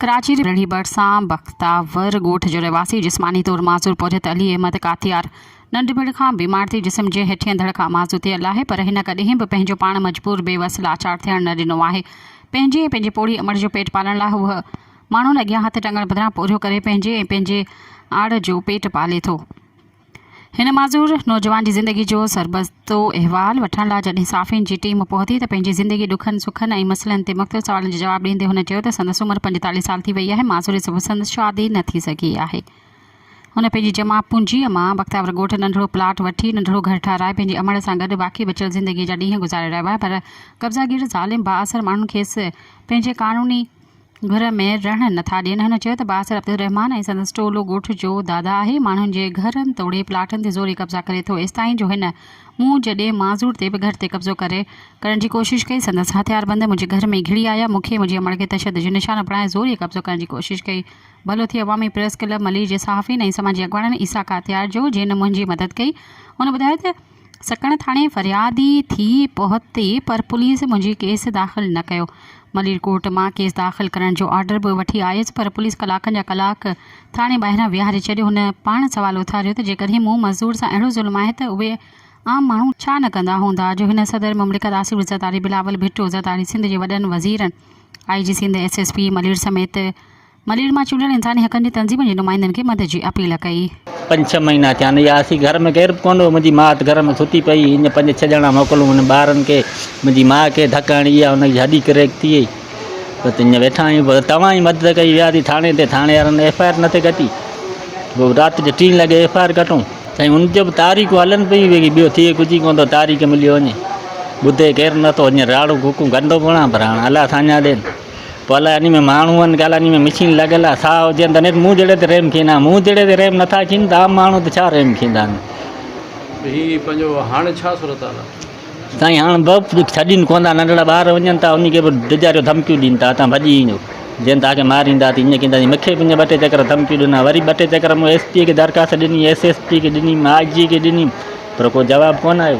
ڪراچي جي رڙهي ڀرسان بختاور ڳوٺ جو رهواسي جسماني طور معذور پورهيت علي احمد ڪاتيار ننڍپڻ کان بيمار ٿي جسم جي هيٺين ڌڙ کان معذور ٿيل آهي پر هن ڪڏهن به پنهنجو پاڻ مجبور، بي وس، لاچار ٿيڻ نه ڏنو آهي. پنهنجي ۽ پنهنجي پوڙهي امڙ جو پيٽ پالڻ لاء هو ماڻهن اڳيان هٿ ٽنگڻ بدران پورهيو ڪري پنهنجي ۽ پنهنجي آڙ جو پيٽ پالي ٿو. هن معذور نوجوان جي زندگي جو سربستو احوال وٺڻ لاء جڏهن صحافين جي ٽيم پهتي ته پنهنجي زندگي ڏکن سکن ۽ مسئلن تي مختلف سوالن جو جواب ڏيندي هن چيو ته سندس عمر پنجيتاليهه سال ٿي وئي آهي معذوري سبب سندس شادي نه ٿي سگهي آهي هن پنهنجي جمع پونجيء مان بختياور ڳوٺ ننڍڙو پلاٽ وٺي ننڍڙو گهر ٺهرائي پنهنجي امڙ سان گڏ باقي بچيل زندگي جا ڏينهن گذاري رهيو آهي پر قبضاگير ظالم بااثر ماڻهن کيس پنهنجي قانوني گهر ۾ رهڻ نٿا ڏين هن چيو ته بااثر عبدالرحمان ۽ سندس ٽولو ڳوٺ جو دادا آهي ماڻهن جي گهرن توڙي پلاٽن تي زوري قبضا ڪري ٿو ايستائين جو هن مون جڏي معذور تي به گهر تي قبضو ڪري ڪرڻ جي ڪوشش ڪئي سندس هٿياربند منهنجي گهر ۾ گهڙي آيا مون کي منهنجي امڙ کي تشدد جو نشانو بڻائي زوري قبضو ڪرڻ جي ڪوشش ڪئي ڀلو ٿئي عوامي پريس ڪلب ملير جي صحافين ۽ سماجي اڳواڻن عيسيٰ ڪاتيار جو جنهن منهنجي مدد ڪئي هن ٻڌايو ته سکڻ ٿاڻي فريادي ٿي پهتي پر پوليس منهنجي ڪيس داخل نه ڪيو. مليرڪوٽ مان ڪيس داخل ڪرڻ جو آرڊر به وٺي آيس پر پوليس ڪلاڪن جا ڪلاڪ ٿاڻي ٻاهران ويهاري ڇڏيو. هن پاڻ سوال اٿاريو ته جيڪڏهن مون مزدور سان اهڙو ظلم آهي ته اهي عام ماڻهو ڇا نه ڪندا هوندا جو هن صدر مملڪت آصف زرداري، بلاول ڀٽو زرداري، سنڌ جي وڏن وزيرن، I G Sindh, S S P Malir سميت ملير مان چونڊيل انساني حقن جي تنظيمن جي نمائندن کي مدد جي اپيل ڪئي. پنج ڇهه مهينا ٿيا آهن يا اسين گهر ۾ ڪير به ڪونه هو منهنجي ماء اٿ گهر ۾ ستي پئي هئي هن پنج ڇهه ڄڻا موڪلون هن ٻارن کي منهنجي ماء کي ڌڪ هڻي اها ان جي هڏي ڪريڪ ٿي وئي بس هينئر ويٺا آهيون پر توهان ئي مدد ڪئي ويا ٿي ٿاڻي تي ٿاڻي وارن ايف آء آر نٿي ڪٽي پوء رات جو ٽين لڳي ايف آء آر ڪٽون سائين ان جو به تاريخون هلن پيون ويگي ٻيو ٿئي ڪجهه ئي ڪونه ٿو تاريخ مليو وڃي ٻڌي ڪير نٿو هينئر راڙون ڪوڪون ڪندو به رهان پر هاڻ الله ساڃاهه ڏين. پوء الاء انهي ۾ ماڻهو آهن ڪي الاء انهي ۾ مشين لڳل آهي سا هجن ته نيٺ مون جهڙي تي رحم ڪيندا مون جهڙي تي رحم نٿا ڪين ته عام ماڻهو تي ڇا رحم ڪيندا هي پنهنجو هاڻ ڇا صورت حال آهي سائين هاڻ به ڇڏين ڪون ٿا ننڍڙا ٻار وڃن ٿا انهي کي به ڊجاريو ڌمڪيون ڏين ٿا هتان ڀڄي ايندو جن تاکي ماريندا تي ائين ڪيندا مونکي به ائين ٻه ٽي چڪر ڌمڪيون ڏنا وري ٻه ٽي چڪر مون ايس پي کي درخواست ڏني ايس ايس پي کي ڏني آء جي کي ڏني پر ڪو جواب ڪون آيو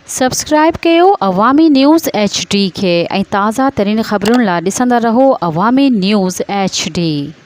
سبسڪرائيب ڪيو عوامي نيوز ايڇ ڊي کي ۽ تازه ترين خبرن لا ڏسندا رهو عوامي نيوز ايڇ ڊي.